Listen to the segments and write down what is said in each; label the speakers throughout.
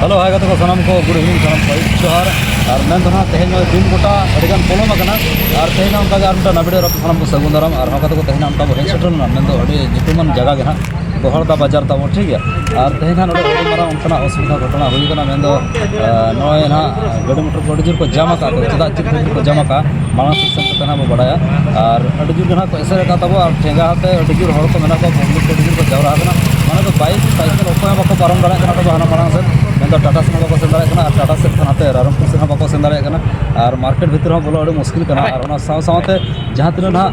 Speaker 1: hello hi ᱜᱟᱛᱮ ᱠᱚ ᱥᱟᱱᱟᱢ ᱠᱚ ᱜᱩᱰ ᱤᱵᱷᱤᱱᱤᱝ ᱥᱟᱱᱟᱢ ᱠᱚ ᱟᱹᱭᱩᱵ ᱡᱚᱦᱟᱨ ᱟᱨ ᱢᱮᱱ ᱫᱚ ᱱᱟᱦᱟᱜ ᱛᱮᱦᱮᱧ ᱫᱤᱱ ᱜᱚᱴᱟ ᱟᱹᱰᱤᱜᱟᱱ ᱯᱚᱞᱚᱢ ᱟᱠᱟᱱᱟ ᱟᱨ ᱛᱮᱦᱮᱧ ᱦᱚᱸ ᱚᱱᱠᱟᱜᱮ ᱟᱨ ᱢᱤᱫᱴᱟᱝ ᱱᱟᱵᱤ ᱰᱮᱨᱟ ᱥᱟᱱᱟᱢ ᱠᱚ ᱥᱟᱹᱜᱩᱱ ᱫᱟᱨᱟᱢ ᱟᱨ ᱦᱚᱸ ᱠᱟᱛᱮ ᱠᱚ ᱛᱮᱦᱮᱧ ᱚᱱᱠᱟ ᱵᱚ ᱦᱮᱡ ᱥᱮᱴᱮᱨ ᱞᱮᱱᱟ ᱢᱮᱱᱫᱚ ᱟᱹᱰᱤ ᱧᱩᱛᱩᱢᱟᱱ ᱡᱟᱭᱜᱟ ᱜᱮ ᱱᱟᱦᱟᱜ ᱜᱚᱦᱚᱲᱫᱟ ᱵᱟᱡᱟᱨ ᱛᱟᱵᱚ ᱴᱷᱤᱠ ᱜᱮᱭᱟ ᱟᱨ ᱛᱮᱦᱮᱧ ᱦᱟᱸᱜ ᱱᱚᱰᱮ ᱟᱹᱰᱤ ᱢᱟᱨᱟᱝ ᱚᱱᱠᱟᱱᱟᱜ ᱚᱥᱩᱵᱤᱫᱷᱟ ᱜᱷᱚᱴᱚᱱᱟ ᱦᱩᱭ ᱠᱟᱱᱟ ᱢᱮᱱᱫᱚ ᱱᱚᱜᱼᱚᱭ ᱱᱟᱦᱟᱜ ᱜᱟᱹᱰᱤ ᱢᱚᱴᱚᱨ ᱠᱚ ᱟᱹᱰᱤ ᱡᱳᱨ ᱠᱚ ᱡᱟᱢ ᱟᱠᱟᱫ ᱛᱮ ᱪᱮᱫᱟᱜ ᱪᱮᱫ ᱠᱷᱟᱹᱛᱤᱨ ᱠᱚ ᱡᱟᱢ ᱟᱠᱟᱫᱼᱟ ᱢᱟᱲᱟᱝ ᱥᱮᱫ ᱥᱮᱱ ᱠᱟᱛᱮᱫ ᱱᱟᱦᱟᱜ ᱵᱚᱱ ᱵᱟᱲᱟᱭᱟ ᱟᱨ ᱟᱹᱰᱤ ᱡᱳᱨ ᱜᱮ ᱱᱟᱦᱟᱜ ᱠᱚ ᱮᱥᱮᱫ ᱟᱠᱟᱫ ᱛᱟᱵᱚᱱᱟ ᱟᱨ ᱴᱷᱮᱸᱜᱟ ᱟᱛᱮᱫ ᱟᱹᱰᱤ ᱡᱳᱨ ᱦᱚᱲ ᱠᱚ ᱢᱮᱱᱟᱜ ᱠᱚᱣᱟ ᱯᱟᱵᱽᱞᱤᱠ ᱠᱚ ᱟᱹᱰᱤ ᱡᱳᱨ ᱠᱚ ᱡᱟᱣᱨᱟ ᱟᱠᱟᱱᱟ ᱢᱟᱱᱮ ᱫᱚ ᱵᱟᱭᱤᱠ ᱥᱟᱭᱠᱮᱞ ᱚᱠᱚᱭ ᱦᱚᱸ ᱵᱟᱠᱚ ᱯᱟᱨᱚᱢ ᱫᱟᱲᱮᱭᱟᱜ ᱠᱟᱱᱟ ᱛᱚᱵᱮ ᱦᱟᱱᱟ ᱢᱟᱲᱟᱝ ᱥᱮᱫ ᱢᱮᱱᱫᱚ ᱴᱟᱴᱟ ᱥᱮᱫ ᱦᱚᱸ ᱵᱟᱠᱚ ᱥᱮᱱ ᱫᱟᱲᱮᱭᱟᱜ ᱠᱟᱱᱟ ᱟᱨ ᱴᱟᱴᱟ ᱥᱮᱫ ᱠᱷᱚᱱ ᱦᱟᱱᱛᱮ ᱨᱟᱭᱨᱚᱝᱯᱩᱨ ᱥᱮᱫ ᱦᱚᱸ ᱵᱟᱠᱚ ᱥᱮᱱ ᱫᱟᱲᱮᱭᱟᱜ ᱠᱟᱱᱟ ᱟᱨ ᱢᱟᱨᱠᱮᱴ ᱵᱷᱤᱛᱤᱨ ᱦᱚᱸ ᱵᱚᱞᱚ ᱟᱹᱰᱤ ᱢᱩᱥᱠᱤᱞ ᱠᱟᱱᱟ ᱟᱨ ᱚᱱᱟ ᱥᱟᱶ ᱥᱟᱶᱛᱮ ᱡᱟᱦᱟᱸ ᱛᱤᱱᱟᱹᱜ ᱱᱟᱦᱟᱜ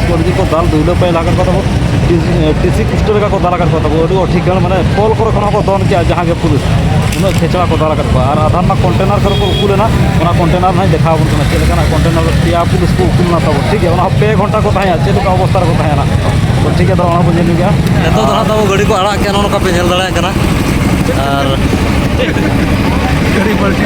Speaker 1: ᱡᱩᱫᱤ ᱠᱚ ᱫᱟᱞ ᱫᱩᱞᱟᱹ ᱯᱟᱭ ᱞᱟᱜᱟᱱ ᱠᱚ ᱛᱟᱵᱚ ᱴᱤᱥᱤ ᱠᱩᱥᱴᱚ ᱞᱮᱠᱟ ᱠᱚ ᱫᱟᱞ ᱟᱠᱟᱫ ᱠᱚ ᱛᱟᱵᱚ ᱟᱹᱰᱤ ᱴᱷᱤᱠ ᱜᱟᱱ ᱢᱟᱱᱮ ᱯᱚᱞ ᱠᱚᱨᱮ ᱠᱷᱚᱱ ᱦᱚᱸᱠᱚ ᱫᱚᱱ ᱠᱮᱜᱼᱟ ᱡᱟᱦᱟᱸ ᱜᱮ ᱯᱩᱞᱤᱥ ᱩᱱᱟᱹᱜ ᱠᱷᱮᱪᱲᱟ ᱠᱚ ᱫᱟᱞ ᱟᱠᱟᱫ ᱠᱚᱣᱟ ᱟᱨ ᱟᱫᱷᱟᱨ ᱨᱮᱱᱟᱜ ᱠᱚᱱᱴᱮᱱᱟᱨ ᱠᱚᱨᱮ ᱠᱚ ᱩᱠᱩ ᱞᱮᱱᱟ ᱚᱱᱟ ᱠᱚᱱᱴᱮᱱᱟᱨ ᱦᱚᱸᱭ ᱫᱮᱠᱷᱟᱣ ᱟᱵᱚᱱ ᱠᱟᱱᱟ ᱪᱮᱫ ᱞᱮᱠᱟᱱᱟᱜ ᱠᱚᱱᱴᱮᱱᱟᱨ ᱯᱮᱭᱟ ᱯᱩᱞᱤᱥ ᱠᱚ ᱩᱠᱩ ᱞᱮᱱᱟ ᱛᱟᱵᱚ ᱴᱷᱤᱠ ᱜᱮᱭᱟ ᱚᱱᱟ ᱦᱚᱸ ᱯᱮ ᱜᱷᱚᱱᱴᱟ ᱠᱚ ᱛᱟᱦᱮᱸᱭᱟ ᱪᱮᱫ ᱞᱮᱠᱟ ᱚᱵᱚᱥᱛᱟ ᱨᱮᱠᱚ ᱛᱟᱦᱮᱸᱭᱟ ᱛᱚ ᱴᱷᱤᱠ ᱜᱮᱭᱟ ᱚᱱᱟ ᱵᱚᱱ ᱧᱮᱞ ᱜᱮᱭᱟ ᱱᱤᱛᱚᱜ ᱫᱚ ᱦᱟᱸᱜ ᱛᱟᱵᱚ ᱜᱟᱹᱰᱤ ᱠᱚ ᱟᱲᱟᱜ ᱠᱮᱜᱼᱟ ᱱᱚᱜᱼᱚ ᱱᱚᱝᱠᱟ ᱯᱮ ᱧᱮᱞ ᱫᱟᱲᱮᱭᱟᱜ ᱠᱟᱱᱟ ᱟᱨ ᱜᱟᱹᱰᱤ ᱯᱟᱞᱴᱤ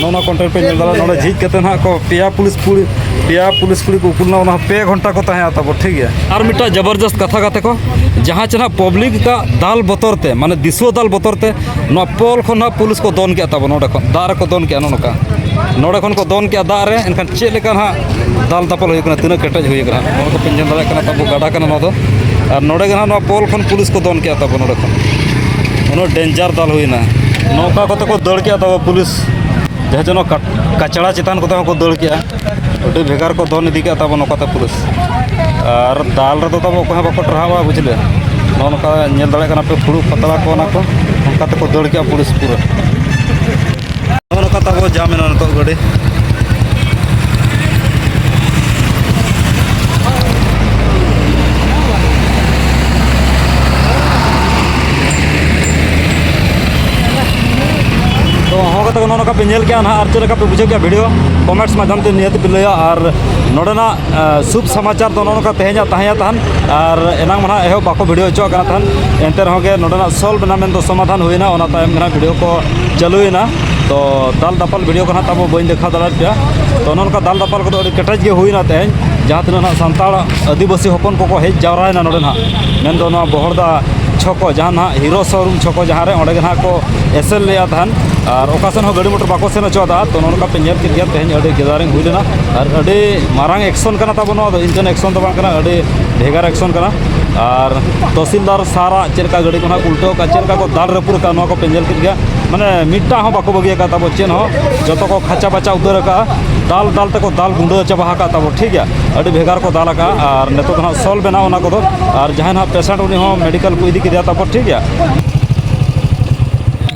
Speaker 1: ᱱᱚᱜᱼᱚ ᱱᱚᱣᱟ ᱠᱚᱱᱴᱮᱱ ᱯᱮ ᱧᱮᱞ ᱫᱟᱲᱮᱭᱟᱜᱼᱟ ᱱᱚᱰᱮ ᱡᱷᱤᱡ ᱠᱟᱛᱮ ᱱᱟᱦᱟᱜ ᱠᱚ ᱯᱮᱭᱟ ᱯᱩᱞᱤᱥ ᱠᱩᱲᱤ ᱯᱮᱭᱟ ᱯᱩᱞᱤᱥ ᱠᱩᱲᱤ ᱠᱚ ᱩᱠᱩ ᱞᱮᱱᱟ ᱚᱱᱟ ᱯᱮ ᱜᱷᱚᱱᱴᱟ ᱠᱚ ᱛᱟᱦᱮᱸ ᱛᱟᱵᱚ ᱴᱷᱤᱠ ᱜᱮᱭᱟ ᱟᱨ ᱢᱤᱫᱴᱟᱝ ᱡᱚᱵᱚᱨᱫᱚᱥᱛ ᱠᱟᱛᱷᱟ ᱠᱟᱛᱮ ᱠᱚ ᱡᱟᱦᱟᱸ ᱪᱮ ᱱᱟᱦᱟᱜ ᱯᱟᱵᱽᱞᱤᱠ ᱟᱜ ᱫᱟᱞ ᱵᱚᱛᱚᱨ ᱛᱮ ᱢᱟᱱᱮ ᱫᱤᱥᱩᱣᱟᱹ ᱫᱟᱞ ᱵᱚᱛᱚᱨ ᱛᱮ ᱱᱚᱣᱟ ᱯᱳᱞ ᱠᱷᱚᱱ ᱱᱟᱦᱟᱜ ᱯᱩᱞᱤᱥ ᱠᱚ ᱫᱚᱱ ᱠᱮᱫ ᱛᱟᱵᱚᱱ ᱱᱚᱰᱮ ᱠᱷᱚᱱ ᱫᱟᱜ ᱨᱮᱠᱚ ᱫᱚᱱ ᱠᱮᱫᱼᱟ ᱱᱚᱜᱼᱚ ᱱᱚᱝᱠᱟ ᱱᱚᱰᱮ ᱠᱷᱚᱱ ᱠᱚ ᱫᱚᱱ ᱠᱮᱫᱼᱟ ᱫᱟᱜ ᱨᱮ ᱮᱱᱠᱷᱟᱱ ᱪᱮᱫ ᱞᱮᱠᱟ ᱱᱟᱦᱟᱜ ᱫᱟᱞ ᱫᱟᱯᱟᱞ ᱦᱩᱭ ᱠᱟᱱᱟ ᱛᱤᱱᱟᱹᱜ ᱠᱮᱴᱮᱡ ᱦᱩᱭ ᱠᱟᱱᱟ ᱱᱚᱣᱟ ᱫᱚᱯᱮ ᱧᱮᱞ ᱫᱟᱲᱮᱭᱟᱜ ᱠᱟᱱᱟ ᱛᱟᱵᱚ ᱜᱟᱰᱟ ᱠᱟᱱᱟ ᱱᱚᱣᱟ ᱫᱚ ᱟᱨ ᱱᱚᱰᱮ ᱜᱮ ᱱᱟᱦᱟᱜ ᱱᱚᱣᱟ ᱯᱳᱞ ᱠᱷᱚᱱ ᱯᱩᱞᱤᱥ ᱠᱚ ᱫᱚᱱ ᱠᱮᱜᱼᱟ ᱛᱟᱵᱚ ᱱᱚᱰᱮ ᱠᱷᱚᱱ ᱩᱱᱟᱹᱜ ᱰᱮᱧᱡᱟᱨ ᱫᱟᱞ ᱦᱩᱭᱱᱟ ᱱᱚᱝᱠᱟ ᱠᱚᱛᱮ ᱠᱚ ᱫᱟᱹᱲ ᱠᱮᱜᱼᱟ ᱛᱟᱵᱚ ᱯᱩᱞᱤᱥ ᱡᱟᱦᱟᱸ ᱡᱮᱱᱚ ᱠᱟᱪᱲᱟ ᱪᱮᱛᱟᱱ ᱠᱚᱛᱮ ᱦᱚᱸᱠᱚ ᱫᱟᱹᱲ ᱠᱮᱜᱼᱟ ᱟᱹᱰᱤ ᱵᱷᱮᱜᱟᱨ ᱠᱚ ᱫᱚᱱ ᱤᱫᱤ ᱠᱮᱜᱼᱟ ᱛᱟᱵᱚ ᱱᱚᱝᱠᱟᱛᱮ ᱯᱩᱞᱤᱥ ᱟᱨ ᱫᱟᱞ ᱨᱮᱫᱚ ᱛᱟᱵᱚ ᱚᱠᱚᱭ ᱦᱚᱸ ᱵᱟᱠᱚ ᱴᱟᱨᱦᱟᱣᱟ ᱵᱩᱡᱷᱞᱟᱹ ᱱᱚᱜᱼᱚ ᱱᱚᱝᱠᱟ ᱧᱮᱞ ᱫᱟᱲᱮᱭᱟᱜ ᱠᱟᱱᱟ ᱯᱮ ᱯᱷᱩᱲᱩᱜ ᱯᱟᱛᱲᱟ ᱠᱚ ᱚᱱᱟ ᱠᱚ ᱚᱱᱠᱟ ᱛᱮᱠᱚ ᱫᱟᱹᱲ ᱠᱮᱜᱼᱟ ᱯᱩᱞᱤᱥ ᱯᱩᱨᱟᱹ ᱱᱚᱜᱼᱚ ᱱᱚᱝᱠᱟ ᱛᱟᱵᱚ ᱡᱟᱢ ᱮᱱᱟ ᱱᱤᱛᱚᱜ ᱜᱟᱹᱰᱤ ᱞᱮᱠᱟ ᱯᱮ ᱧᱮᱞ ᱠᱮᱜᱼᱟ ᱱᱟᱦᱟᱜ ᱟᱨ ᱪᱮᱫ ᱞᱮᱠᱟ ᱯᱮ ᱵᱩᱡᱷᱟᱹᱣ ᱠᱮᱜᱼᱟ ᱵᱷᱤᱰᱤᱭᱳ ᱠᱚᱢᱮᱱᱴᱥ ᱢᱟᱫᱽᱫᱷᱚᱢ ᱛᱮ ᱱᱤᱦᱟᱹᱛ ᱯᱮ ᱞᱟᱹᱭᱟ ᱟᱨ ᱱᱚᱰᱮᱱᱟᱜ ᱥᱩᱵ ᱥᱚᱢᱟᱪᱟᱨ ᱫᱚ ᱱᱚᱜᱼᱚ ᱱᱚᱝᱠᱟ ᱛᱮᱦᱮᱧᱟᱜ ᱛᱟᱦᱮᱸᱭᱟ ᱛᱟᱦᱮᱱ ᱟᱨ ᱮᱱᱟᱝ ᱢᱟ ᱱᱟᱦᱟᱜ ᱮᱦᱚᱵ ᱵᱟᱠᱚ ᱵᱷᱤᱰᱤᱭᱳ ᱦᱚᱪᱚᱣᱟᱜ ᱠᱟᱱᱟ ᱛᱟᱦᱮᱱ ᱮᱱᱛᱮ ᱨᱮᱦᱚᱸ ᱜᱮ ᱱᱚᱰᱮᱱᱟᱜ ᱥᱚᱞᱵᱷ ᱮᱱᱟ ᱢᱮᱱᱫᱚ ᱥᱚᱢᱟᱫᱷᱟᱱ ᱦᱩᱭᱱᱟ ᱚᱱᱟ ᱛᱟᱭᱚᱢ ᱜᱮ ᱱᱟᱦᱟᱜ ᱵᱷᱤᱰᱤᱭᱳ ᱠᱚ ᱪᱟᱹᱞᱩᱭᱮᱱᱟ ᱛᱚ ᱫᱟᱞ ᱫᱟᱯᱟᱞ ᱵᱷᱤᱰᱤᱭᱳ ᱠᱚ ᱱᱟᱦᱟᱜ ᱛᱟᱵᱚ ᱵᱟᱹᱧ ᱫᱮᱠᱷᱟᱣ ᱫᱟᱲᱮᱭᱟᱫ ᱯᱮᱭᱟ ᱛᱚ ᱚᱱᱮ ᱚᱱᱠᱟ ᱫᱟᱞ ᱫᱟᱯᱟᱞ ᱠᱚᱫᱚ ᱟᱹᱰᱤ ᱠᱮᱴᱮᱡ ᱜᱮ ᱦᱩᱭᱱᱟ ᱛᱮᱦᱮᱧ ᱡᱟᱦᱟᱸ ᱛᱤᱱᱟᱹᱜ ᱱᱟᱦᱟᱜ ᱥᱟᱱᱛᱟᱲ ᱟᱹᱫᱤᱵᱟᱹᱥᱤ ᱦᱚᱯᱚᱱ ᱠᱚᱠᱚ ᱦᱮᱡ ᱡᱟᱣᱨᱟᱭᱮᱱᱟ ᱱᱚᱰᱮ ᱱᱟᱦᱟᱜ ᱢᱮᱱᱫᱚ ᱱᱚᱣᱟ ᱵᱚᱦᱚᱲᱫᱟ ᱪᱷᱚᱠᱚ ᱡᱟᱦᱟᱸ ᱱᱟᱦᱟᱜ ᱦᱤᱨᱳ ᱥᱳᱨᱩᱢ ᱪᱷᱚᱠᱚ ᱡᱟᱦᱟᱸ ᱨᱮ ᱚᱸᱰᱮ ᱜᱮ ᱱᱟᱦᱟᱜ ᱠᱚ ᱮᱥᱮᱞ ᱞᱮᱫᱼᱟ ᱛᱟᱦᱮᱱ ᱟᱨ ᱚᱠᱟ ᱥᱮᱫ ᱦᱚᱸ ᱜᱟᱹᱰᱤ ᱢᱚᱴᱚᱨ ᱵᱟᱠᱚ ᱥᱮᱱ ᱦᱚᱪᱚᱣᱟᱫᱟ ᱛᱚ ᱱᱚᱜᱼᱚ ᱱᱚᱝᱠᱟ ᱯᱮ ᱧᱮᱞ ᱠᱮᱫ ᱜᱮᱭᱟ ᱛᱮᱦᱮᱧ ᱟᱹᱰᱤ ᱜᱮᱫᱟᱨᱤᱝ ᱦᱩᱭ ᱞᱮᱱᱟ ᱟᱨ ᱟᱹᱰᱤ ᱢᱟᱨᱟᱝ ᱮᱠᱥᱚᱱ ᱠᱟᱱᱟ ᱛᱟᱵᱚᱱ ᱱᱚᱣᱟ ᱫᱚ ᱤᱱᱠᱟᱹᱱ ᱮᱠᱥᱚᱱ ᱫᱚ ᱵᱟᱝ ᱠᱟᱱᱟ ᱟᱹᱰᱤ ᱵᱷᱮᱜᱟᱨ ᱮᱠᱥᱚᱱ ᱠᱟᱱᱟ ᱟᱨ ᱛᱚᱦᱥᱤᱞᱫᱟᱨ ᱥᱟᱨᱟᱜ ᱪᱮᱫ ᱞᱮᱠᱟ ᱜᱟᱹᱰᱤ ᱠᱚ ᱱᱟᱦᱟᱜ ᱩᱞᱴᱟᱹᱣ ᱟᱠᱟᱫ ᱪᱮᱫ ᱞᱮᱠᱟ ᱠᱚ ᱫᱟᱞ ᱨᱟᱹᱯᱩᱫ ᱟᱠᱟᱫ ᱱᱚᱣᱟ ᱠᱚ ᱯᱮ ᱧᱮᱞ ᱠᱮᱫ ᱜᱮᱭᱟ ᱢᱟᱱᱮ ᱢᱤᱫᱴᱟᱝ ᱦᱚᱸ ᱵᱟᱠᱚ ᱵᱟᱹᱜᱤ ᱟᱠᱟᱫ ᱛᱟᱵᱚ ᱪᱮᱫ ᱦᱚᱸ ᱡᱚᱛᱚ ᱠᱚ ᱠᱷᱟᱪᱟ ᱵᱟᱪᱟ ᱩᱛᱟᱹᱨ ᱟᱠᱟᱫᱼᱟ ᱫᱟᱞ ᱫᱟᱞ ᱛᱮᱠᱚ ᱫᱟᱞ ᱜᱩᱸᱰᱟᱹ ᱪᱟᱵᱟ ᱟᱠᱟᱫ ᱛᱟᱵᱚ ᱴᱷᱤᱠ ᱜᱮᱭᱟ ᱟᱹᱰᱤ ᱵᱷᱮᱜᱟᱨ ᱠᱚ ᱫᱟᱞ ᱟᱠᱟᱫᱼᱟ ᱟᱨ ᱱᱤᱛᱚᱜ ᱫᱚ ᱱᱟᱦᱟᱜ ᱥᱚᱞ ᱵᱮᱱᱟᱣ ᱚᱱᱟ ᱠᱚᱫᱚ ᱟᱨ ᱡᱟᱦᱟᱸᱭ ᱱᱟᱦᱟᱜ ᱯᱮᱥᱮᱱᱴ ᱩᱱᱤ ᱦᱚᱸ ᱢᱮᱰᱤᱠᱟᱞ ᱠᱚ ᱤᱫᱤ ᱠᱮᱫᱮᱭᱟ ᱛᱟᱯᱚᱨ ᱴᱷᱤᱠ ᱜᱮᱭᱟ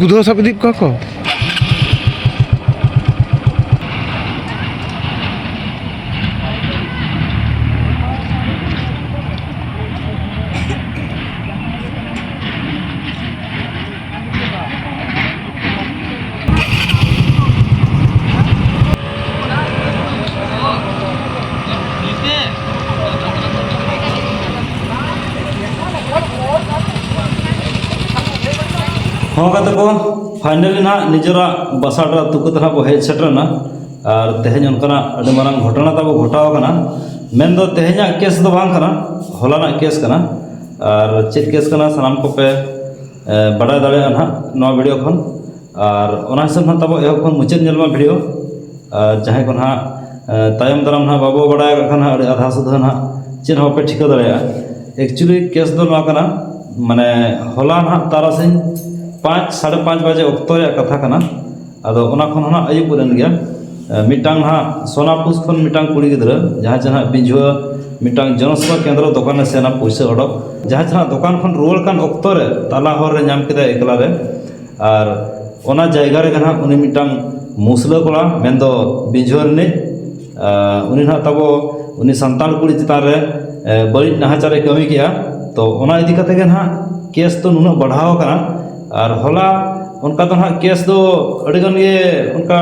Speaker 2: ᱵᱩᱫᱷᱟᱹ ᱥᱟᱵ ᱤᱫᱤ ᱠᱚᱣᱟ ᱠᱚ
Speaker 1: ᱦᱚᱦᱚ ᱠᱟᱛᱮ ᱠᱚ ᱯᱷᱟᱭᱱᱮᱞᱤ ᱱᱟᱦᱟᱜ ᱱᱤᱡᱮᱨᱟᱜ ᱵᱟᱥᱟ ᱴᱚᱞᱟ ᱟᱹᱛᱩ ᱠᱚᱛᱮ ᱱᱟᱦᱟᱜ ᱠᱚ ᱦᱮᱡ ᱥᱮᱴᱮᱨᱮᱱᱟ ᱟᱨ ᱛᱮᱦᱮᱧ ᱚᱱᱠᱟᱱᱟᱜ ᱟᱹᱰᱤ ᱢᱟᱨᱟᱝ ᱜᱷᱚᱴᱚᱱᱟ ᱛᱟᱵᱚ ᱜᱷᱚᱴᱟᱣ ᱠᱟᱱᱟ ᱢᱮᱱᱫᱚ ᱛᱮᱦᱮᱧᱟᱜ ᱠᱮᱥ ᱫᱚ ᱵᱟᱝ ᱠᱟᱱᱟ ᱦᱚᱞᱟᱱᱟᱜ ᱠᱮᱥ ᱠᱟᱱᱟ ᱟᱨ ᱪᱮᱫ ᱠᱮᱥ ᱠᱟᱱᱟ ᱥᱟᱱᱟᱢ ᱠᱚᱯᱮ ᱵᱟᱰᱟᱭ ᱫᱟᱲᱮᱭᱟᱜᱼᱟ ᱱᱟᱦᱟᱜ ᱱᱚᱣᱟ ᱵᱷᱤᱰᱤᱭᱳ ᱠᱷᱚᱱ ᱟᱨ ᱚᱱᱟ ᱦᱤᱥᱟᱹᱵ ᱱᱟᱦᱟᱜ ᱛᱟᱵᱚ ᱮᱦᱚᱵ ᱠᱷᱚᱱ ᱢᱩᱪᱟᱹᱫ ᱧᱮᱞ ᱢᱟ ᱵᱷᱤᱰᱤᱭᱳ ᱟᱨ ᱡᱟᱦᱟᱸᱭ ᱠᱚ ᱱᱟᱦᱟᱜ ᱛᱟᱭᱚᱢ ᱫᱟᱨᱟᱢ ᱱᱟᱦᱟᱜ ᱵᱟᱵᱚ ᱵᱟᱰᱟᱭ ᱠᱟᱜ ᱠᱷᱟᱱ ᱟᱹᱰᱤ ᱟᱫᱷᱟ ᱥᱩᱫᱷᱟᱹ ᱱᱟᱦᱟᱜ ᱪᱮᱫ ᱦᱚᱸ ᱵᱟᱯᱮ ᱴᱷᱤᱠᱟᱹ ᱫᱟᱲᱮᱭᱟᱜᱼᱟ ᱮᱠᱪᱩᱞᱞᱤ ᱠᱮᱥ ᱫᱚ ᱱᱚᱣᱟ ᱠᱟᱱᱟ ᱢᱟᱱᱮ ᱦᱚᱞᱟ ᱱᱟᱦᱟᱜ ᱛᱟᱨᱟᱥᱤᱧ ᱯᱟᱸᱪ ᱥᱟᱲᱮ ᱯᱟᱸᱪ ᱵᱟᱡᱮ ᱚᱠᱛᱚ ᱨᱮᱭᱟᱜ ᱠᱟᱛᱷᱟ ᱠᱟᱱᱟ ᱟᱫᱚ ᱚᱱᱟ ᱠᱷᱚᱱ ᱦᱚᱸ ᱱᱟᱦᱟᱜ ᱟᱹᱭᱩᱵ ᱜᱚᱫ ᱮᱱ ᱜᱮᱭᱟ ᱢᱤᱫᱴᱟᱝ ᱱᱟᱦᱟᱜ ᱥᱳᱱᱟᱯᱩᱥ ᱠᱷᱚᱱ ᱢᱤᱫᱴᱟᱝ ᱠᱩᱲᱤ ᱜᱤᱫᱽᱨᱟᱹ ᱡᱟᱦᱟᱸᱭ ᱪᱮ ᱱᱟᱦᱟᱜ ᱵᱤᱡᱷᱩᱣᱟᱹ ᱢᱤᱫᱴᱟᱝ ᱡᱚᱱᱚᱥᱮᱵᱟ ᱠᱮᱱᱫᱨᱚ ᱫᱚᱠᱟᱱᱮ ᱥᱮᱱᱟ ᱯᱩᱭᱥᱟᱹ ᱚᱰᱚᱠ ᱡᱟᱦᱟᱸ ᱪᱮ ᱱᱟᱦᱟᱜ ᱫᱚᱠᱟᱱ ᱠᱷᱚᱱ ᱨᱩᱣᱟᱹᱲ ᱠᱟᱱ ᱚᱠᱛᱚ ᱨᱮ ᱛᱟᱞᱟ ᱦᱚᱨ ᱨᱮ ᱧᱟᱢ ᱠᱮᱫᱮᱭᱟᱭ ᱮᱠᱞᱟ ᱨᱮ ᱟᱨ ᱚᱱᱟ ᱡᱟᱭᱜᱟ ᱨᱮᱜᱮ ᱱᱟᱦᱟᱜ ᱩᱱᱤ ᱢᱤᱫᱴᱟᱝ ᱢᱩᱥᱞᱟᱹ ᱠᱚᱲᱟ ᱢᱮᱱᱫᱚ ᱵᱤᱡᱷᱩᱣᱟᱹ ᱨᱤᱱᱤᱡ ᱩᱱᱤ ᱦᱟᱸᱜ ᱛᱟᱵᱚ ᱩᱱᱤ ᱥᱟᱱᱛᱟᱲ ᱠᱩᱲᱤ ᱪᱮᱛᱟᱱ ᱨᱮ ᱵᱟᱹᱲᱤᱡ ᱱᱟᱦᱟᱪᱟᱨᱮ ᱠᱟᱹᱢᱤ ᱠᱮᱜᱼᱟ ᱛᱳ ᱚᱱᱟ ᱤᱫᱤ ᱠᱟᱛᱮᱫ ᱜᱮ ᱦᱟᱸᱜ ᱠᱮᱥ ᱫᱚ ᱱᱩᱱᱟᱹᱜ ᱵᱟᱲᱦᱟᱣ ᱠᱟᱱᱟ ᱟᱨ ᱦᱚᱞᱟ ᱚᱱᱠᱟ ᱫᱚ ᱦᱟᱸᱜ ᱠᱮᱥ ᱫᱚ ᱟᱹᱰᱤᱜᱟᱱ ᱜᱮ ᱚᱱᱠᱟ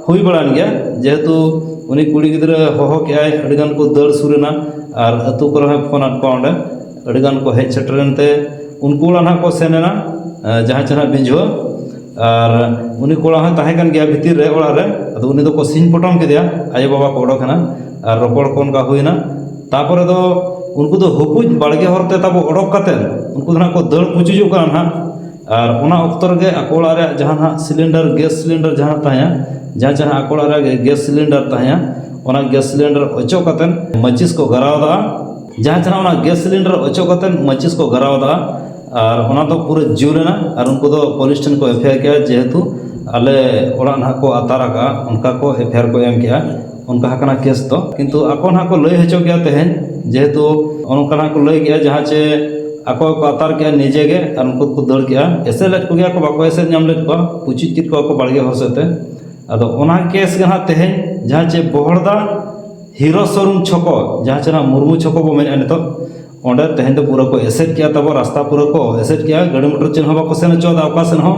Speaker 1: ᱦᱩᱭ ᱵᱟᱲᱟᱭᱮᱱ ᱜᱮᱭᱟ ᱡᱮᱦᱮᱛᱩ ᱩᱱᱤ ᱠᱩᱲᱤ ᱜᱤᱫᱽᱨᱟᱹ ᱦᱚᱦᱚ ᱠᱮᱜᱼᱟᱭ ᱟᱹᱰᱤᱜᱟᱱ ᱠᱚ ᱫᱟᱹᱲ ᱥᱩᱨ ᱮᱱᱟ ᱟᱨ ᱟᱹᱛᱩ ᱠᱚᱨᱮ ᱦᱚᱸᱭ ᱯᱷᱳᱱ ᱟᱫ ᱠᱚᱣᱟ ᱚᱸᱰᱮ ᱟᱹᱰᱤᱜᱟᱱ ᱠᱚ ᱦᱮᱡ ᱥᱮᱴᱮᱨᱮᱱ ᱛᱮ ᱩᱱᱠᱩ ᱚᱲᱟᱜ ᱱᱟᱦᱟᱜ ᱠᱚ ᱥᱮᱱ ᱮᱱᱟ ᱡᱟᱦᱟᱸ ᱪᱮ ᱱᱟᱦᱟᱜ ᱵᱤᱡᱷᱟᱹ ᱟᱨ ᱩᱱᱤ ᱠᱚᱲᱟ ᱦᱚᱸᱭ ᱛᱟᱦᱮᱸ ᱠᱟᱱ ᱜᱮᱭᱟ ᱵᱷᱤᱛᱤᱨ ᱨᱮ ᱚᱲᱟᱜ ᱨᱮ ᱟᱫᱚ ᱩᱱᱤ ᱫᱚᱠᱚ ᱥᱤᱧ ᱯᱚᱴᱚᱢ ᱠᱮᱫᱮᱭᱟ ᱟᱭᱳᱼᱵᱟᱵᱟ ᱠᱚ ᱚᱰᱚᱠ ᱮᱱᱟ ᱟᱨ ᱨᱚᱯᱚᱲ ᱠᱚ ᱚᱱᱠᱟ ᱦᱩᱭᱱᱟ ᱛᱟᱨᱯᱚᱨᱮ ᱫᱚ ᱩᱱᱠᱩ ᱫᱚ ᱦᱩᱠᱩᱡ ᱵᱟᱲᱜᱮ ᱦᱚᱨ ᱛᱮ ᱛᱟᱵᱚ ᱚᱰᱚᱠ ᱠᱟᱛᱮᱫ ᱩᱱᱠᱩ ᱫᱚ ᱱᱟᱦᱟᱜ ᱠᱚ ᱫᱟᱹᱲ ᱯᱩᱪᱩᱡᱚᱜ ᱠᱟᱱᱟ ᱱᱟᱦᱟᱜ ᱟᱨ ᱚᱱᱟ ᱚᱠᱛᱚ ᱨᱮᱜᱮ ᱟᱠᱚ ᱚᱲᱟᱜ ᱨᱮᱭᱟᱜ ᱡᱟᱦᱟᱸ ᱱᱟᱦᱟᱜ ᱥᱤᱞᱤᱱᱰᱟᱨ ᱜᱮᱥ ᱥᱤᱞᱤᱱᱰᱟᱨ ᱡᱟᱦᱟᱸ ᱛᱟᱦᱮᱸᱫ ᱡᱟᱦᱟᱸ ᱪᱮ ᱱᱟᱦᱟᱜ ᱟᱠᱚ ᱚᱲᱟᱜ ᱨᱮ ᱜᱮᱥ ᱥᱤᱞᱤᱱᱰᱟᱨ ᱛᱟᱦᱮᱸᱫ ᱚᱱᱟ ᱜᱮᱥ ᱥᱤᱞᱤᱱᱰᱟᱨ ᱚᱪᱚᱜ ᱠᱟᱛᱮᱫ ᱢᱟᱹᱪᱤᱥ ᱠᱚ ᱫᱷᱚᱨᱟᱣ ᱟᱫᱟ ᱡᱟᱦᱟᱸ ᱛᱤᱱᱟᱹᱜ ᱚᱱᱟ ᱜᱮᱥ ᱥᱤᱞᱤᱱᱰᱟᱨ ᱚᱪᱚᱜ ᱠᱟᱛᱮᱫ ᱢᱟᱹᱪᱤᱥ ᱠᱚ ᱫᱷᱚᱨᱟᱣ ᱟᱫᱟ ᱟᱨ ᱚᱱᱟ ᱫᱚ ᱯᱩᱨᱟᱹ ᱡᱩᱞ ᱮᱱᱟ ᱟᱨ ᱩᱱᱠᱩ ᱫᱚ ᱯᱩᱞᱤᱥ ᱴᱷᱮᱱ ᱠᱚ ᱮᱯᱷᱮᱭᱟᱨ ᱠᱮᱫᱟ ᱡᱮᱦᱮᱛᱩ ᱟᱞᱮ ᱚᱲᱟᱜ ᱱᱟᱦᱟᱜ ᱠᱚ ᱟᱛᱟᱨ ᱟᱠᱟᱫᱼᱟ ᱚᱱᱠᱟ ᱠᱚ ᱮᱯᱷᱮᱭᱟᱨ ᱠᱚ ᱮᱢ ᱠᱮᱫᱼᱟ ᱚᱱᱠᱟ ᱟᱠᱟᱱᱟ ᱠᱮᱥ ᱫᱚ ᱠᱤᱱᱛᱩ ᱟᱠᱚ ᱦᱟᱸᱜ ᱠᱚ ᱞᱟᱹᱭ ᱦᱚᱪᱚ ᱠᱮᱫᱼᱟ ᱛᱟᱦᱮᱸᱫ ᱡᱮᱦᱮᱛᱩ ᱚᱱᱠᱟ ᱦᱟᱸᱜ ᱠᱚ ᱞᱟᱹᱭ ᱠᱮᱫᱼᱟ ᱡᱟᱦᱟᱸ ᱪᱮ ᱟᱠᱚ ᱜᱮᱠᱚ ᱟᱛᱟᱨ ᱠᱮᱫᱼᱟ ᱱᱤᱡᱮ ᱜᱮ ᱟᱨ ᱩᱱᱠᱩ ᱫᱚᱠᱚ ᱫᱟᱹᱲ ᱠᱮᱫᱼᱟ ᱮᱥᱮᱫ ᱞᱮᱫ ᱠᱚᱜᱮᱭᱟ ᱠᱚ ᱵᱟᱠᱚ ᱮᱥᱮᱫ ᱧᱟᱢ ᱞᱮᱫ ᱠᱚᱣᱟ ᱯᱩᱪᱩᱡ ᱠᱮᱫ ᱠᱚᱣᱟ ᱠᱚ ᱵᱟᱲᱜᱮ ᱦᱚᱨ ᱥᱮᱫ ᱛᱮ ᱟᱫᱚ ᱚᱱᱟ ᱠᱮᱥ ᱜᱮ ᱦᱟᱸᱜ ᱛᱮᱦᱮᱧ ᱡᱟᱦᱟᱸ ᱪᱮ ᱵᱚᱦᱚᱲᱫᱟ ᱦᱤᱨᱚ ᱥᱳᱨᱩᱢ ᱪᱷᱚᱠᱚ ᱡᱟᱦᱟᱸ ᱪᱮ ᱱᱚᱣᱟ ᱢᱩᱨᱢᱩ ᱪᱷᱚᱠᱚ ᱵᱚᱱ ᱢᱮᱱᱮᱫᱼᱟ ᱱᱤᱛᱚᱜ ᱚᱸᱰᱮ ᱛᱮᱦᱮᱧ ᱫᱚ ᱯᱩᱨᱟᱹ ᱠᱚ ᱮᱥᱮᱫ ᱠᱮᱫᱼᱟ ᱛᱟᱵᱚᱱ ᱨᱟᱥᱛᱟ ᱯᱩᱨᱟᱹ ᱠᱚ ᱮᱥᱮᱫ ᱠᱮᱫᱼᱟ ᱜᱟᱹᱰᱤ ᱢᱚᱴᱚᱨ ᱪᱮᱫ ᱦᱚᱸ ᱵᱟᱠᱚ ᱥᱮᱱ ᱦᱚᱪᱚᱣᱟᱫᱟ ᱚᱠᱟ ᱥᱮᱫ ᱦᱚᱸ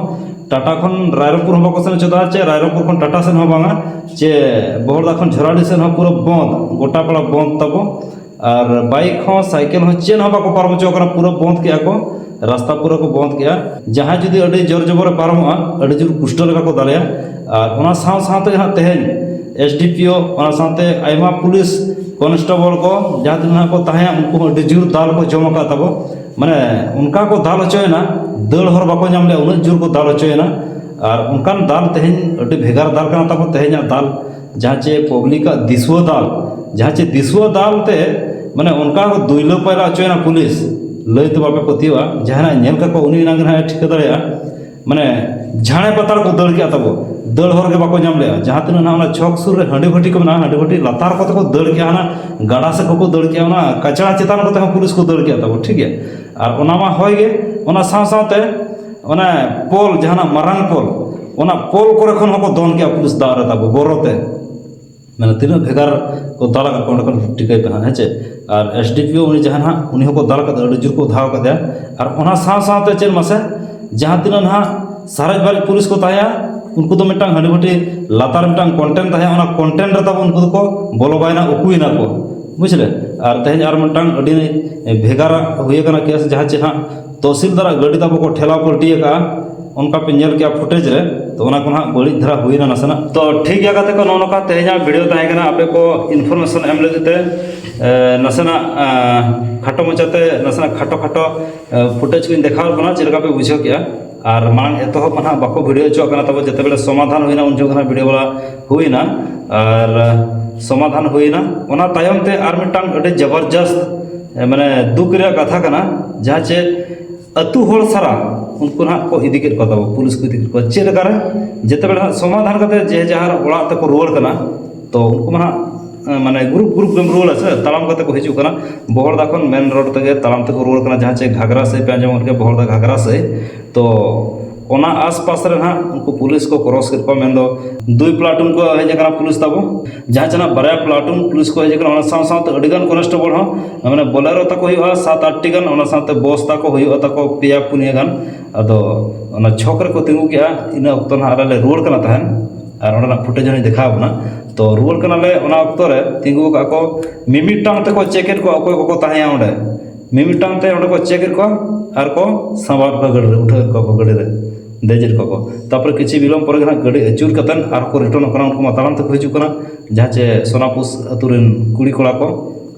Speaker 1: ᱴᱟᱴᱟ ᱠᱷᱚᱱ ᱨᱟᱭᱨᱚᱝᱯᱩᱨ ᱦᱚᱸ ᱵᱟᱠᱚ ᱥᱮᱱ ᱦᱚᱪᱚᱣᱟᱫᱟ ᱪᱮ ᱨᱟᱭᱨᱚᱝᱯᱩᱨ ᱠᱷᱚᱱ ᱴᱟᱴᱟ ᱥᱮᱫ ᱦᱚᱸ ᱵᱟᱝᱟ ᱪᱮ ᱵᱚᱦᱚᱲᱫᱟ ᱠᱷᱚᱱ ᱡᱷᱚᱨᱟᱰᱤ ᱥᱮᱫ ᱦᱚᱸ ᱯᱩᱨᱟᱹ ᱵᱚᱱᱫ ᱜᱚᱴᱟ ᱯᱟᱲᱟ ᱵᱚᱱᱫ ᱛᱟᱵᱚ ᱟᱨ ᱵᱟᱭᱤᱠ ᱦᱚᱸ ᱥᱟᱭᱠᱮᱞ ᱦᱚᱸ ᱪᱮᱫ ᱦᱚᱸ ᱵᱟᱠᱚ ᱯᱟᱨᱚᱢ ᱦᱚᱪᱚ ᱠᱟᱱᱟ ᱯᱩᱨᱟᱹ ᱵᱚᱱᱫ ᱠᱮᱫᱼᱟ ᱠᱚ ᱨᱟᱥᱛᱟ ᱯᱩᱨᱟᱹ ᱠᱚ ᱵᱚᱱᱫ ᱠᱮᱫᱼᱟ ᱡᱟᱦᱟᱸᱭ ᱡᱩᱫᱤ ᱟᱹᱰᱤ ᱡᱳᱨ ᱡᱚᱵᱚᱨᱮ ᱯᱟᱨᱚᱢᱚᱜᱼᱟ ᱟᱹᱰᱤ ᱡᱳᱨ ᱯᱩᱥᱴᱟᱹᱣ ᱞᱮᱠᱟ ᱠᱚ ᱫᱟᱞᱮᱭᱟ ᱟᱨ ᱚᱱᱟ ᱥᱟᱶ ᱥᱟᱶᱛᱮ ᱦᱟᱸᱜ ᱛᱮᱦᱮᱧ ᱮᱥ ᱰᱤ ᱯᱤ ᱳ ᱚᱱᱟ ᱥᱟᱶᱛᱮ ᱟᱭᱢᱟ ᱯᱩᱞᱤᱥ ᱠᱚᱱᱥᱴᱮᱵᱚᱞ ᱠᱚ ᱡᱟᱦᱟᱸ ᱛᱤᱱᱟᱹᱜ ᱠᱚ ᱛᱟᱦᱮᱸᱭᱟ ᱩᱱᱠᱩ ᱦᱚᱸ ᱟᱹᱰᱤ ᱡᱳᱨ ᱫᱟᱞ ᱠᱚ ᱡᱚᱢ ᱠᱟᱜ ᱛᱟᱠᱚ ᱢᱟᱱᱮ ᱚᱱᱠᱟ ᱠᱚ ᱫᱟᱞ ᱦᱚᱪᱚᱭᱮᱱᱟ ᱫᱟᱹᱲ ᱦᱚᱨ ᱵᱟᱠᱚ ᱧᱟᱢ ᱞᱮᱜᱼᱟ ᱩᱱᱟᱹᱜ ᱡᱳᱨ ᱠᱚ ᱫᱟᱞ ᱦᱚᱪᱚᱭᱮᱱᱟ ᱟᱨ ᱚᱱᱠᱟᱱ ᱫᱟᱞ ᱛᱮᱦᱮᱧ ᱟᱹᱰᱤ ᱵᱷᱮᱜᱟᱨ ᱫᱟᱞ ᱠᱟᱱᱟ ᱛᱟᱠᱚ ᱛᱮᱦᱮᱧᱟᱜ ᱫᱟᱞ ᱡᱟᱦᱟᱸ ᱪᱮ ᱯᱟᱵᱽᱞᱤᱠ ᱟᱜ ᱫᱤᱥᱩᱣᱟᱹ ᱫᱟᱞ ᱡᱟᱦᱟᱸ ᱪᱮ ᱫᱤᱥᱩᱣᱟᱹ ᱫᱟᱞ ᱛᱮ ᱢᱟᱱᱮ ᱚᱱᱠᱟ ᱠᱚ ᱫᱩᱭᱞᱟᱹ ᱯᱟᱭᱞᱟ ᱦᱚᱪᱚᱭᱮᱱᱟ ᱯᱩᱞᱤᱥ ᱞᱟᱹᱭ ᱛᱮ ᱵᱟᱯᱮ ᱯᱟᱹᱛᱭᱟᱹᱜᱼᱟ ᱡᱟᱦᱟᱸᱭ ᱧᱮᱞ ᱠᱟᱜ ᱠᱚᱣᱟ ᱩᱱᱤ ᱮᱱᱟᱝ ᱜᱮ ᱦᱟᱸᱜ ᱮ ᱴᱷᱤᱠᱟᱹ ᱫᱟᱲᱮᱭᱟᱜᱼᱟ ᱢᱟᱱᱮ ᱡᱷᱟᱲᱮ ᱯᱟᱛᱟᱲ ᱠᱚ ᱫᱟᱹᱲ ᱠᱮᱜᱼᱟ ᱛᱟᱵᱚ ᱫᱟᱹᱲ ᱦᱚᱨ ᱜᱮ ᱵᱟᱠᱚ ᱧᱟᱢ ᱞᱮᱜᱼᱟ ᱡᱟᱦᱟᱸ ᱛᱤᱱᱟᱹᱜ ᱱᱟᱦᱟᱜ ᱚᱱᱟ ᱪᱷᱚᱠ ᱥᱩᱨ ᱨᱮ ᱦᱟᱺᱰᱤ ᱵᱷᱟᱹᱴᱤ ᱠᱚ ᱢᱮᱱᱟᱜᱼᱟ ᱦᱟᱺᱰᱤ ᱵᱷᱟᱹᱴᱤ ᱞᱟᱛᱟᱨ ᱠᱚᱛᱮ ᱠᱚ ᱫᱟᱹᱲ ᱠᱮᱜᱼᱟ ᱚᱱᱟ ᱜᱟᱰᱟ ᱥᱮᱫ ᱠᱚᱠᱚ ᱫᱟᱹᱲ ᱠᱮᱜᱼᱟ ᱚᱱᱟ ᱠᱟᱪᱲᱟ ᱪᱮᱛᱟᱱ ᱠᱚᱛᱮ ᱦᱚᱸ ᱯᱩᱞᱤᱥ ᱠᱚ ᱫᱟᱹᱲ ᱠᱮᱜᱼᱟ ᱛᱟᱵᱚ ᱴᱷᱤᱠ ᱜᱮᱭᱟ ᱟᱨ ᱚᱱᱟ ᱢᱟ ᱦᱳᱭ ᱜᱮ ᱚᱱᱟ ᱥᱟᱶ ᱥᱟᱶᱛᱮ ᱚᱱᱮ ᱯᱳᱞ ᱡᱟᱦᱟᱱᱟᱜ ᱢᱟᱨᱟᱝ ᱯᱳᱞ ᱚᱱᱟ ᱯᱳᱞ ᱠᱚᱨᱮ ᱠᱷᱚᱱ ᱦᱚᱸᱠᱚ ᱫᱚᱱ ᱠᱮᱜᱼᱟ ᱯᱩᱞᱤᱥ ᱫᱟᱜ ᱨᱮ ᱛᱟᱵᱚ ᱵᱚᱨᱚᱛᱮ ᱢᱟᱱᱮ ᱛᱤᱱᱟᱹᱜ ᱵᱷᱮᱜᱟᱨ ᱠᱚ ᱫᱟᱞ ᱟᱠᱟᱫ ᱠᱚᱣᱟ ᱚᱸᱰᱮ ᱠᱷᱚᱱ ᱴᱷᱤᱠᱟᱹᱭ ᱯᱮ ᱦᱟᱸᱜ ᱦᱮᱸ ᱪᱮ ᱟᱨ ᱮᱥ ᱰᱤ ᱯᱤ ᱳ ᱩᱱᱤ ᱡᱟᱦᱟᱸᱭ ᱦᱟᱸᱜ ᱩᱱᱤ ᱦᱚᱸᱠᱚ ᱫᱟᱞ ᱠᱟᱫᱮᱭᱟ ᱟᱹᱰᱤ ᱡᱳᱨ ᱠᱚ ᱜᱷᱟᱣ ᱠᱟᱫᱮᱭᱟ ᱟᱨ ᱚᱱᱟ ᱥᱟᱶ ᱥᱟᱶᱛᱮ ᱪᱮᱫ ᱢᱟᱥᱮ ᱡᱟᱦᱟᱸ ᱛᱤᱱᱟᱹᱜ ᱦᱟᱸᱜ ᱥᱟᱨᱮᱡ ᱵᱟᱨᱮᱡ ᱯᱩᱞᱤᱥ ᱠᱚ ᱛᱟᱦᱮᱸᱭᱟ ᱩᱱᱠᱩ ᱫᱚ ᱢᱤᱫᱴᱟᱱ ᱦᱟᱺᱰᱤ ᱵᱷᱟᱹᱴᱤ ᱞᱟᱛᱟᱨ ᱨᱮ ᱢᱤᱫᱴᱟᱱ ᱠᱚᱱᱴᱮᱱ ᱛᱟᱦᱮᱸᱭᱟ ᱚᱱᱟ ᱠᱚᱱᱴᱮᱱ ᱨᱮ ᱛᱟᱵᱚᱱ ᱩᱱᱠᱩ ᱫᱚᱠᱚ ᱵᱚᱞᱚ ᱵᱟᱭᱱᱟ ᱩᱠᱩᱭᱮᱱᱟ ᱠᱚ ᱵᱩᱡᱽ ᱞᱮ ᱟᱨ ᱛᱮᱦᱤᱧ ᱟᱨ ᱢᱤᱫᱴᱟᱱ ᱟᱹᱰᱤ ᱵᱷᱮᱜᱟᱨᱟᱜ ᱦᱩᱭ ᱠᱟᱱᱟ ᱠᱮᱥ ᱡᱟᱦᱟᱸ ᱪᱮ ᱦᱟᱸᱜ ᱛᱚᱦᱥᱤᱞᱫᱟᱨ ᱟᱜ ᱜᱟᱹᱰᱤ ᱛᱟᱵᱚ ᱠᱚ ᱴᱷᱮᱞᱟᱣ ᱯᱟᱹᱞᱴᱤ ᱟᱠᱟᱫᱼᱟ ᱚᱱᱠᱟ ᱯᱮ ᱧᱮᱞ ᱠᱮᱫᱼᱟ ᱯᱷᱩᱴᱮᱡᱽ ᱨᱮ ᱛᱚ ᱚᱱᱟ ᱠᱚ ᱱᱟᱦᱟᱜ ᱵᱟᱹᱲᱤᱡ ᱫᱷᱟᱨᱟ ᱦᱩᱭᱱᱟ ᱱᱟᱥᱮᱱᱟᱜ ᱛᱚ ᱴᱷᱤᱠ ᱜᱮᱭᱟ ᱜᱟᱛᱮ ᱠᱚ ᱱᱚᱜᱼᱚ ᱱᱚᱝᱠᱟ ᱛᱮᱦᱮᱧᱟᱜ ᱵᱷᱤᱰᱤᱭᱳ ᱛᱟᱦᱮᱸ ᱠᱟᱱᱟ ᱟᱯᱮ ᱠᱚ ᱤᱱᱯᱷᱚᱨᱢᱮᱥᱚᱱ ᱮᱢ ᱞᱟᱹᱜᱤᱫ ᱛᱮ ᱱᱟᱥᱮᱱᱟᱜ ᱠᱷᱟᱴᱚ ᱢᱟᱪᱷᱟᱛᱮ ᱱᱟᱥᱮᱱᱟᱜ ᱠᱷᱟᱴᱚ ᱠᱷᱟᱴᱚ ᱯᱷᱩᱴᱮᱡᱽ ᱠᱚᱧ ᱫᱮᱠᱷᱟᱣ ᱟᱫ ᱵᱚᱱᱟ ᱪᱮᱫ ᱞᱮᱠᱟ ᱯᱮ ᱵᱩᱡᱷᱟᱹᱣ ᱠᱮᱫᱼᱟ ᱟᱨ ᱢᱟᱲᱟᱝ ᱮᱛᱚᱦᱚᱵ ᱢᱟ ᱱᱟᱦᱟᱜ ᱵᱟᱠᱚ ᱵᱷᱤᱰᱤᱭᱳ ᱦᱚᱪᱚᱣᱟᱜ ᱠᱟᱱᱟ ᱛᱟᱵᱚ ᱡᱮᱛᱮ ᱵᱮᱲᱮ ᱥᱚᱢᱟᱫᱷᱟᱱ ᱦᱩᱭᱱᱟ ᱩᱱ ᱡᱚᱠᱷᱚᱱ ᱵᱷᱤᱰᱤᱭᱳ ᱵᱟᱞᱟ ᱦᱩᱭᱱᱟ ᱟᱨ ᱥᱚᱢᱟᱫᱷᱟᱱ ᱦᱩᱭᱱᱟ ᱚᱱᱟ ᱛᱟᱭᱚᱢ ᱛᱮ ᱟᱨ ᱢᱤᱫᱴᱟᱝ ᱟᱹᱰᱤ ᱡᱚᱵᱚᱨᱡᱚᱥᱛ ᱢᱟᱱᱮ ᱫᱩᱠ ᱨᱮᱭᱟᱜ ᱠᱟᱛᱷᱟ ᱠᱟᱱᱟ ᱡᱟᱦᱟᱸ ᱪᱮ ᱟᱹᱛᱩ ᱦᱚᱲ ᱥᱟᱨᱟ ᱩᱱᱠᱩ ᱱᱟᱦᱟᱜ ᱠᱚ ᱤᱫᱤ ᱠᱮᱫ ᱠᱚ ᱛᱟᱵᱚ ᱯᱩᱞᱤᱥ ᱠᱚ ᱤᱫᱤ ᱠᱮᱫ ᱠᱚᱣᱟ ᱪᱮᱫ ᱞᱮᱠᱟᱨᱮ ᱡᱮᱛᱮ ᱵᱮᱲᱟ ᱦᱟᱸᱜ ᱥᱚᱢᱟᱫᱷᱟᱱ ᱠᱟᱛᱮ ᱡᱮ ᱡᱟᱦᱟᱨ ᱚᱲᱟᱜ ᱛᱮᱠᱚ ᱨᱩᱣᱟᱹᱲ ᱠᱟᱱᱟ ᱛᱚ ᱩᱱᱠᱩ ᱢᱟ ᱦᱟᱸᱜ ᱢᱟᱱᱮ ᱜᱨᱩᱯ ᱜᱨᱩᱯ ᱜᱮᱢ ᱨᱩᱣᱟᱹᱲᱟ ᱥᱮ ᱛᱟᱲᱟᱢ ᱠᱟᱛᱮ ᱠᱚ ᱦᱤᱡᱩᱜ ᱠᱟᱱᱟ ᱵᱚᱦᱚᱲᱫᱟ ᱠᱷᱚᱱ ᱢᱮᱱ ᱨᱳᱰ ᱛᱮᱜᱮ ᱛᱟᱲᱟᱢ ᱛᱮᱠᱚ ᱨᱩᱣᱟᱹᱲ ᱠᱟᱱᱟ ᱡᱟᱦᱟᱸ ᱪᱮ ᱜᱷᱟᱜᱽᱨᱟ ᱥᱮᱫ ᱯᱮ ᱟᱸᱡᱚᱢ ᱠᱟᱜ ᱜᱮᱭᱟ ᱵᱚᱦᱚᱲᱫᱟ ᱜᱷᱟᱜᱽᱨᱟ ᱥᱮᱫ ᱛᱚ ᱚᱱᱟ ᱟᱥᱯᱟᱥ ᱨᱮ ᱱᱟᱦᱟᱜ ᱩᱱᱠᱩ ᱯᱩᱞᱤᱥ ᱠᱚ ᱠᱨᱚᱥ ᱠᱮᱫ ᱠᱚᱣᱟ ᱢᱮᱱᱫᱚ ᱫᱩᱭ ᱯᱞᱟᱴᱩᱱ ᱠᱚ ᱦᱮᱡ ᱟᱠᱟᱱᱟ ᱯᱩᱞᱤᱥ ᱛᱟᱵᱚ ᱡᱟᱦᱟᱸ ᱪᱟᱱᱟᱜ ᱵᱟᱨᱭᱟ ᱯᱞᱟᱴᱩᱱ ᱯᱩᱞᱤᱥ ᱠᱚ ᱦᱮᱡ ᱟᱠᱟᱱᱟ ᱚᱱᱟ ᱥᱟᱶ ᱥᱟᱶᱛᱮ ᱟᱹᱰᱤᱜᱟᱱ ᱠᱚᱱᱥᱴᱮᱵᱚᱞ ᱦᱚᱸ ᱢᱟᱱᱮ ᱵᱚᱞᱮᱨᱳ ᱛᱟᱠᱚ ᱦᱩᱭᱩᱜᱼᱟ ᱥᱟᱛ ᱟᱴᱴᱤ ᱜᱟᱱ ᱚᱱᱟ ᱥᱟᱶᱛᱮ ᱵᱚᱥ ᱛᱟᱠᱚ ᱦᱩᱭᱩᱜᱼᱟ ᱛᱟᱠᱚ ᱯᱮᱭᱟ ᱯᱩᱱᱭᱟᱹ ᱜᱟᱱ ᱟᱫᱚ ᱚᱱᱟ ᱪᱷᱚᱠ ᱨᱮᱠᱚ ᱛᱤᱸᱜᱩ ᱠᱮᱜᱼᱟ ᱤᱱᱟᱹ ᱚᱠᱛᱚ ᱱᱟᱦᱟᱜ ᱟᱞᱮ ᱞᱮ ᱨᱩᱣᱟᱹᱲ ᱠᱟᱱᱟ ᱛᱟᱦᱮᱸᱫ ᱟᱨ ᱚᱸᱰᱮᱱᱟᱜ ᱯᱷᱩᱴᱮᱡᱽ ᱦᱚᱸᱞᱤᱧ ᱫᱮᱠᱷᱟᱣ ᱵᱚᱱᱟ ᱛᱚ ᱨᱩᱣᱟᱹᱲ ᱠᱟᱱᱟᱞᱮ ᱚᱱᱟ ᱚᱠᱛᱚ ᱨᱮ ᱛᱤᱸᱜᱩ ᱟᱠᱟᱫ ᱠᱚ ᱢᱤᱢᱤᱫᱴᱟᱝ ᱛᱮᱠᱚ ᱪᱮᱠ ᱮᱫ ᱠᱚᱣᱟ ᱚᱠᱚᱭ ᱠᱚᱠᱚ ᱛᱟᱦᱮᱸᱭᱟ ᱚᱸᱰᱮ ᱢᱤᱢᱤᱫᱴᱟᱝ ᱛᱮ ᱚᱸᱰᱮ ᱠᱚ ᱪᱮᱠ ᱮᱫ ᱠᱚᱣᱟ ᱟᱨ ᱠᱚ ᱥᱟᱸᱵᱟᱣ ᱮᱫ ᱠᱚᱣᱟ ᱜᱟᱹᱰᱤ ᱨᱮ ᱩᱴᱷᱟᱹᱣ ᱮᱫ ᱠᱚᱣᱟ ᱠᱚ ᱜᱟᱹᱰᱤ ᱨᱮ ᱫᱮᱡ ᱮᱫ ᱠᱚᱣᱟ ᱠᱚ ᱛᱟᱨᱯᱚᱨᱮ ᱠᱤᱪᱷᱩ ᱵᱤᱞᱚᱢ ᱯᱚᱨᱮ ᱜᱮ ᱦᱟᱸᱜ ᱜᱟᱹᱰᱤ ᱟᱹᱪᱩᱨ ᱠᱟᱛᱮᱫ ᱟᱨᱦᱚᱸ ᱠᱚ ᱨᱤᱴᱟᱨᱱᱚᱜ ᱠᱟᱱᱟ ᱩᱱᱠᱩ ᱢᱟ ᱛᱟᱲᱟᱢ ᱛᱮᱠᱚ ᱦᱤᱡᱩᱜ ᱠᱟᱱᱟ ᱡᱟᱦᱟᱸ ᱪᱮ ᱥᱳᱱᱟᱯᱩᱥ ᱟᱹᱛᱩ ᱨᱮᱱ ᱠᱩᱲᱤ ᱠᱚᱲᱟ ᱠᱚ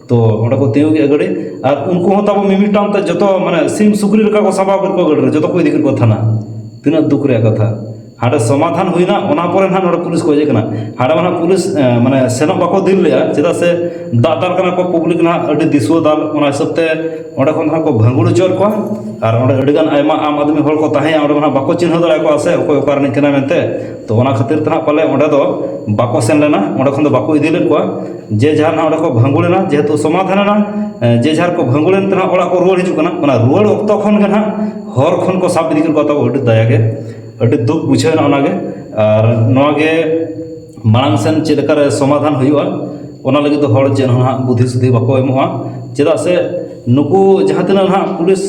Speaker 1: ᱛᱳ ᱚᱸᱰᱮ ᱠᱚ ᱛᱤᱸᱜᱩ ᱠᱮᱫᱼᱟ ᱜᱟᱹᱰᱤ ᱟᱨ ᱩᱱᱠᱩ ᱦᱚᱸ ᱛᱟᱵᱚ ᱢᱤᱢᱤᱫᱴᱟᱝ ᱛᱮ ᱡᱚᱛᱚ ᱢᱟᱱᱮ ᱥᱤᱢ ᱥᱩᱠᱨᱤ ᱞᱮᱠᱟ ᱠᱚ ᱥᱟᱸᱵᱟᱣ ᱠᱮᱫ ᱠᱚᱣᱟ ᱜᱟᱹᱰᱤ ᱨᱮ ᱡᱚᱛᱚ ᱠᱚ ᱤᱫᱤ ᱠᱮᱫ ᱠᱚᱣᱟ ᱛᱷᱟᱱᱟ ᱛᱤᱱᱟᱹᱜ ᱫᱩᱠ ᱨᱮᱭᱟᱜ ᱠᱟᱛᱷᱟ ᱦᱟᱸᱰᱮ ᱥᱚᱢᱟᱫᱷᱟᱱ ᱦᱩᱭᱱᱟ ᱚᱱᱟ ᱯᱚᱨᱮ ᱱᱟᱦᱟᱜ ᱱᱚᱰᱮ ᱯᱩᱞᱤᱥ ᱠᱚ ᱦᱮᱡ ᱠᱟᱱᱟ ᱦᱟᱸᱰᱮ ᱢᱟ ᱯᱩᱞᱤᱥ ᱢᱟᱱᱮ ᱥᱮᱱᱚᱜ ᱵᱟᱠᱚ ᱫᱤᱞ ᱞᱮᱫᱼᱟ ᱪᱮᱫᱟᱜ ᱥᱮ ᱫᱟᱜ ᱫᱟᱞ ᱠᱟᱱᱟ ᱠᱚ ᱯᱚᱵᱽᱞᱤᱠ ᱱᱟᱦᱟᱜ ᱟᱹᱰᱤ ᱫᱤᱥᱩᱣᱟᱹ ᱫᱟᱞ ᱚᱱᱟ ᱦᱤᱥᱟᱹᱵ ᱛᱮ ᱚᱸᱰᱮ ᱠᱷᱚᱱ ᱱᱟᱦᱟᱜ ᱠᱚ ᱵᱷᱟᱸᱜᱩᱲ ᱦᱚᱪᱚᱭᱮᱫ ᱠᱚᱣᱟ ᱟᱨ ᱚᱸᱰᱮ ᱟᱹᱰᱤᱜᱟᱱ ᱟᱭᱢᱟ ᱟᱢ ᱟᱫᱢᱤ ᱦᱚᱲ ᱠᱚ ᱛᱟᱦᱮᱸᱭᱟ ᱚᱸᱰᱮ ᱢᱟ ᱵᱟᱠᱚ ᱪᱤᱱᱦᱟᱹᱣ ᱫᱟᱲᱮᱭᱟᱠᱚᱣᱟ ᱥᱮ ᱚᱠᱚᱭ ᱚᱠᱟ ᱨᱤᱱᱤᱡ ᱠᱟᱱᱟᱭ ᱢᱮᱱᱛᱮ ᱛᱚ ᱚᱱᱟ ᱠᱷᱟᱹᱛᱤᱨ ᱛᱮ ᱱᱟᱦᱟᱜ ᱯᱟᱞᱮ ᱚᱸᱰᱮ ᱫᱚ ᱵᱟᱠᱚ ᱥᱮᱱ ᱞᱮᱱᱟ ᱚᱸᱰᱮ ᱠᱷᱚᱱ ᱫᱚ ᱵᱟᱠᱚ ᱤᱫᱤ ᱞᱮᱫ ᱠᱚᱣᱟ ᱡᱮ ᱡᱟᱦᱟᱨ ᱱᱟᱦᱟᱜ ᱚᱸᱰᱮ ᱠᱚ ᱵᱷᱟᱸᱜᱩᱲ ᱮᱱᱟ ᱡᱮᱦᱮᱛᱩ ᱥᱚᱢᱟᱫᱷᱟᱱ ᱮᱱᱟ ᱡᱮ ᱡᱟᱦᱟᱨ ᱠᱚ ᱵᱷᱟᱸᱜᱩᱲ ᱮᱱᱛᱮ ᱱᱟᱦᱟᱜ ᱚᱲᱟᱜ ᱠᱚ ᱨᱩᱣᱟᱹᱲ ᱦᱤᱡᱩᱜ ᱠᱟᱱᱟ ᱚᱱᱟ ᱨᱩᱣᱟᱹᱲ ᱚᱠᱛᱚ ᱠᱷᱚᱱ ᱜᱮ ᱱᱟᱦᱟᱜ ᱦᱚᱨ ᱠᱷᱚᱱ ᱠᱚ ᱥᱟᱵ ᱤᱫᱤ ᱠᱮᱫ ᱠᱚᱣᱟ ᱛᱟᱵᱚ ᱟᱹᱰᱤ ᱫᱟᱭᱟ ᱜᱮ ᱟᱹᱰᱤ ᱫᱩᱠ ᱵᱩᱡᱷᱟᱹᱣ ᱮᱱᱟ ᱚᱱᱟᱜᱮ ᱟᱨ ᱱᱚᱣᱟᱜᱮ ᱢᱟᱲᱟᱝ ᱥᱮᱱ ᱪᱮᱫ ᱞᱮᱠᱟᱨᱮ ᱥᱚᱢᱟᱫᱷᱟᱱ ᱦᱩᱭᱩᱜᱼᱟ ᱚᱱᱟ ᱞᱟᱹᱜᱤᱫ ᱫᱚ ᱦᱚᱲ ᱪᱮᱫ ᱦᱚᱸ ᱦᱟᱸᱜ ᱵᱩᱫᱷᱤ ᱥᱩᱫᱷᱤ ᱵᱟᱠᱚ ᱮᱢᱚᱜᱼᱟ ᱪᱮᱫᱟᱜ ᱥᱮ ᱱᱩᱠᱩ ᱡᱟᱦᱟᱸ ᱛᱤᱱᱟᱹᱜ ᱦᱟᱸᱜ ᱯᱩᱞᱤᱥ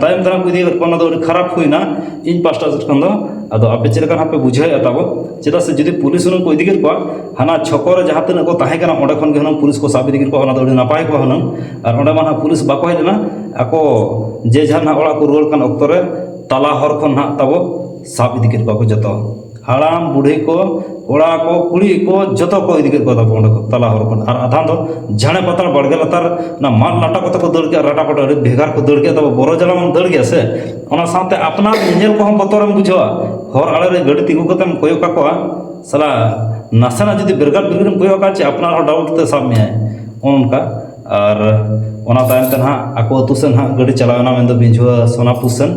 Speaker 1: ᱛᱟᱭᱚᱢ ᱫᱟᱨᱟᱢ ᱠᱚ ᱤᱫᱤ ᱠᱟᱜ ᱠᱚᱣᱟ ᱚᱱᱟ ᱫᱚ ᱟᱹᱰᱤ ᱠᱷᱟᱨᱟᱯ ᱦᱩᱭᱱᱟ ᱤᱧ ᱯᱟᱥᱴᱟ ᱥᱮᱫ ᱠᱷᱚᱱ ᱫᱚ ᱟᱫᱚ ᱟᱯᱮ ᱪᱮᱫ ᱞᱮᱠᱟ ᱦᱟᱸᱜ ᱯᱮ ᱵᱩᱡᱷᱟᱹᱣᱮᱫᱼᱟ ᱛᱟᱵᱚ ᱪᱮᱫᱟᱜ ᱥᱮ ᱡᱩᱫᱤ ᱯᱩᱞᱤᱥ ᱦᱩᱱᱟᱹᱝ ᱠᱚ ᱤᱫᱤ ᱠᱮᱫ ᱠᱚᱣᱟ ᱦᱟᱱᱟ ᱪᱷᱚᱠᱚ ᱨᱮ ᱡᱟᱦᱟᱸ ᱛᱤᱱᱟᱹᱜ ᱠᱚ ᱛᱟᱦᱮᱸ ᱠᱟᱱᱟ ᱚᱸᱰᱮ ᱠᱷᱚᱱ ᱜᱮ ᱦᱩᱱᱟᱹᱝ ᱯᱩᱞᱤᱥ ᱠᱚ ᱥᱟᱵ ᱤᱫᱤ ᱠᱮᱫ ᱠᱚᱣᱟ ᱚᱱᱟ ᱫᱚ ᱟᱹᱰᱤ ᱱᱟᱯᱟᱭ ᱠᱚᱜᱼᱟ ᱦᱩᱱᱟᱹᱝ ᱟᱨ ᱚᱸᱰᱮ ᱢᱟ ᱦᱟᱸᱜ ᱯᱩᱞᱤᱥ ᱵᱟᱠᱚ ᱦᱮᱡ ᱞᱮᱱᱟ ᱟᱠᱚ ᱡᱮ ᱡᱟᱦᱟᱨ ᱦᱟᱸᱜ ᱚᱲᱟᱜ ᱠᱚ ᱨᱩᱣᱟᱹᱲ ᱠᱟᱱ ᱚᱠᱛᱚ ᱨᱮ ᱛᱟᱞᱟ ᱦᱚᱨ ᱠᱷᱚᱱ ᱦᱟᱸᱜ ᱛᱟᱵᱚ ᱥᱟᱵ ᱤᱫᱤ ᱠᱮᱫ ᱠᱚᱣᱟ ᱠᱚ ᱡᱚᱛᱚ ᱦᱟᱲᱟᱢ ᱵᱩᱰᱷᱤ ᱠᱚ ᱠᱚᱲᱟ ᱠᱚ ᱠᱩᱲᱤ ᱠᱚ ᱡᱚᱛᱚ ᱠᱚ ᱤᱫᱤ ᱠᱮᱫ ᱠᱚᱣᱟ ᱛᱟᱵᱚ ᱚᱸᱰᱮ ᱠᱷᱚᱱ ᱛᱟᱞᱟ ᱦᱚᱨ ᱠᱷᱚᱱ ᱟᱨ ᱟᱫᱷᱟ ᱫᱚ ᱡᱷᱟᱲᱮ ᱯᱟᱛᱟᱞ ᱵᱟᱲᱜᱮ ᱞᱟᱛᱟᱨ ᱚᱱᱟ ᱢᱟᱫ ᱞᱟᱴᱟ ᱠᱚᱛᱮ ᱠᱚ ᱫᱟᱹᱲ ᱠᱮᱫᱟ ᱨᱟᱴᱟ ᱯᱟᱴᱟ ᱟᱹᱰᱤ ᱵᱷᱮᱜᱟᱨ ᱠᱚ ᱫᱟᱹᱲ ᱠᱮᱫᱟ ᱛᱟᱵᱚ ᱵᱚᱨᱚ ᱡᱟᱞᱟ ᱢᱟᱢ ᱫᱟᱹᱲ ᱜᱮᱭᱟ ᱥᱮ ᱚᱱᱟ ᱥᱟᱶᱛᱮ ᱟᱯᱱᱟᱨ ᱧᱮᱧᱮᱞ ᱠᱚᱦᱚᱸ ᱵᱚᱛᱚᱨᱮᱢ ᱵᱩᱡᱷᱟᱹᱣᱟ ᱦᱚᱨ ᱟᱲᱮ ᱨᱮ ᱜᱟᱹᱰᱤ ᱛᱤᱸᱜᱩ ᱠᱟᱛᱮᱢ ᱠᱚᱭᱚᱜ ᱠᱟᱠᱚᱣᱟ ᱥᱟᱞᱟ ᱱᱟᱥᱮᱱᱟᱜ ᱡᱩᱫᱤ ᱵᱮᱨᱜᱟᱲ ᱵᱮᱨᱜᱟᱲᱮᱢ ᱠᱚᱭᱚᱜ ᱠᱟᱜᱼᱟ ᱪᱮ ᱟᱯᱱᱟᱨ ᱦᱚᱸ ᱰᱟᱣᱩᱴ ᱛᱮ ᱥᱟᱵ ᱢᱮᱭᱟᱭ ᱚᱱᱠᱟ ᱟᱨ ᱚᱱᱟ ᱛᱟᱭᱚᱢ ᱛᱮ ᱱᱟᱦᱟᱜ ᱟᱠᱚ ᱟᱹᱛᱩ ᱥᱮᱫ ᱱᱟᱦᱟᱜ ᱜᱟᱹᱰᱤ ᱪᱟᱞᱟᱣᱮᱱᱟ ᱢᱮᱱᱫᱚ ᱵᱤᱡᱷᱣᱟᱹ ᱥᱳᱱᱟᱯᱩᱨ ᱥᱮᱫ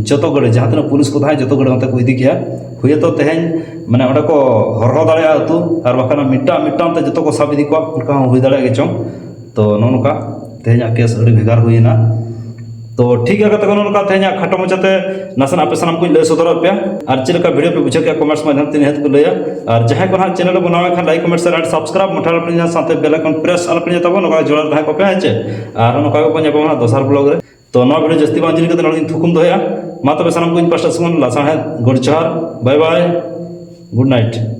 Speaker 1: ᱡᱚᱛᱚ ᱜᱟᱹᱰᱤ ᱡᱟᱦᱟᱸ ᱛᱤᱱᱟᱹᱜ ᱯᱩᱞᱤᱥ ᱠᱚ ᱛᱟᱦᱮᱸ ᱠᱟᱱᱟ ᱡᱚᱛᱚ ᱜᱟᱹᱰᱤ ᱚᱱᱛᱮ ᱠᱚ ᱤᱫᱤ ᱠᱮᱫᱼᱟ ᱦᱩᱭᱩᱜ ᱛᱚ ᱛᱮᱦᱮᱧ ᱢᱟᱱᱮ ᱚᱸᱰᱮ ᱠᱚ ᱦᱚᱨᱦᱚ ᱫᱟᱲᱮᱭᱟᱜᱼᱟ ᱟᱹᱛᱩ ᱟᱨ ᱵᱟᱠᱷᱟᱱ ᱢᱤᱫᱴᱟᱝ ᱢᱤᱫᱴᱟᱝ ᱛᱮ ᱡᱚᱛᱚ ᱠᱚ ᱥᱟᱵ ᱤᱫᱤ ᱠᱚᱣᱟ ᱚᱱᱠᱟ ᱦᱚᱸ ᱦᱩᱭ ᱫᱟᱲᱮᱭᱟᱜ ᱜᱮᱪᱚᱝ ᱛᱳ ᱱᱚᱜᱼᱚ ᱱᱚᱝᱠᱟ ᱛᱮᱦᱮᱧᱟᱜ ᱠᱮᱥ ᱟᱹᱰᱤ ᱵᱷᱮᱜᱟᱨ ᱦᱩᱭᱮᱱᱟ ᱛᱚ ᱴᱷᱤᱠ ᱜᱮᱭᱟ ᱠᱟᱛᱷᱟ ᱠᱚᱱᱚ ᱞᱮᱠᱟ ᱛᱮᱦᱮᱧᱟᱜ ᱠᱷᱟᱴᱚ ᱢᱚᱪᱟᱛᱮ ᱱᱟᱥᱮᱱᱟᱜ ᱟᱯᱮ ᱥᱟᱱᱟᱢ ᱠᱚᱧ ᱞᱟᱹᱭ ᱥᱚᱫᱚᱨᱟᱫ ᱯᱮᱭᱟ ᱟᱨ ᱪᱮᱫ ᱞᱮᱠᱟ ᱵᱷᱤᱰᱤᱭᱳ ᱯᱮ ᱵᱩᱡᱷᱟᱹᱣ ᱠᱮᱫᱟ ᱠᱚᱢᱮᱱᱴᱥ ᱢᱟᱫᱽᱫᱷᱚᱢ ᱛᱮ ᱱᱤᱦᱟᱹᱛ ᱠᱚ ᱞᱟᱹᱭᱟ ᱟᱨ ᱡᱟᱦᱟᱸᱭ ᱠᱚ ᱱᱟᱦᱟᱜ ᱪᱮᱱᱮᱞ ᱨᱮ ᱵᱮᱱᱟᱣ ᱞᱮᱠᱷᱟᱱ ᱞᱟᱭᱤᱠ ᱠᱚᱢᱮᱱᱴ ᱥᱮᱭᱟᱨ ᱟᱨ ᱥᱟᱵᱥᱠᱨᱟᱭᱤᱵ ᱢᱚᱴᱷᱟ ᱞᱮᱯᱮ ᱧᱟᱢ ᱥᱟᱶᱛᱮ ᱵᱮᱞ ᱟᱭᱠᱚᱱ ᱯᱨᱮᱥ ᱟᱞᱚ ᱯᱮ ᱛᱟᱵᱚᱱ ᱱᱚᱝᱠᱟ ᱡᱚᱲᱟᱣ ᱛᱟᱦᱮᱸ ᱠᱚᱯᱮ ᱦᱮᱸ ᱪᱮ ᱟᱨ ᱱᱚᱝᱠᱟ ᱜᱮᱵᱚᱱ ᱧᱟᱯᱟᱢᱟ ᱫᱚᱥᱟᱨ ᱵᱞᱚᱜ ᱨᱮ ᱛᱚ ᱱᱚᱣᱟ ᱵᱷᱤᱰᱤᱭᱳ ᱡᱟᱹᱥᱛᱤ ᱵᱟᱝ ᱡᱤᱞ ᱠᱟᱛᱮ ᱱᱚᱰᱮ ᱛᱷᱩᱠᱩᱢ ᱫᱚᱦᱚᱭᱟ ᱢᱟ ᱛᱚᱵᱮ ᱥᱟᱱᱟᱢ ᱠᱚᱧ ᱯᱟᱥᱴᱟ ᱥᱮᱱ ᱞᱟᱥᱟᱬᱦᱮᱫ ᱜᱩᱰ ᱡᱚᱦᱟᱨ ᱵᱟᱭ ᱵᱟᱭ ᱜᱩᱰ ᱱᱟᱭᱤᱴ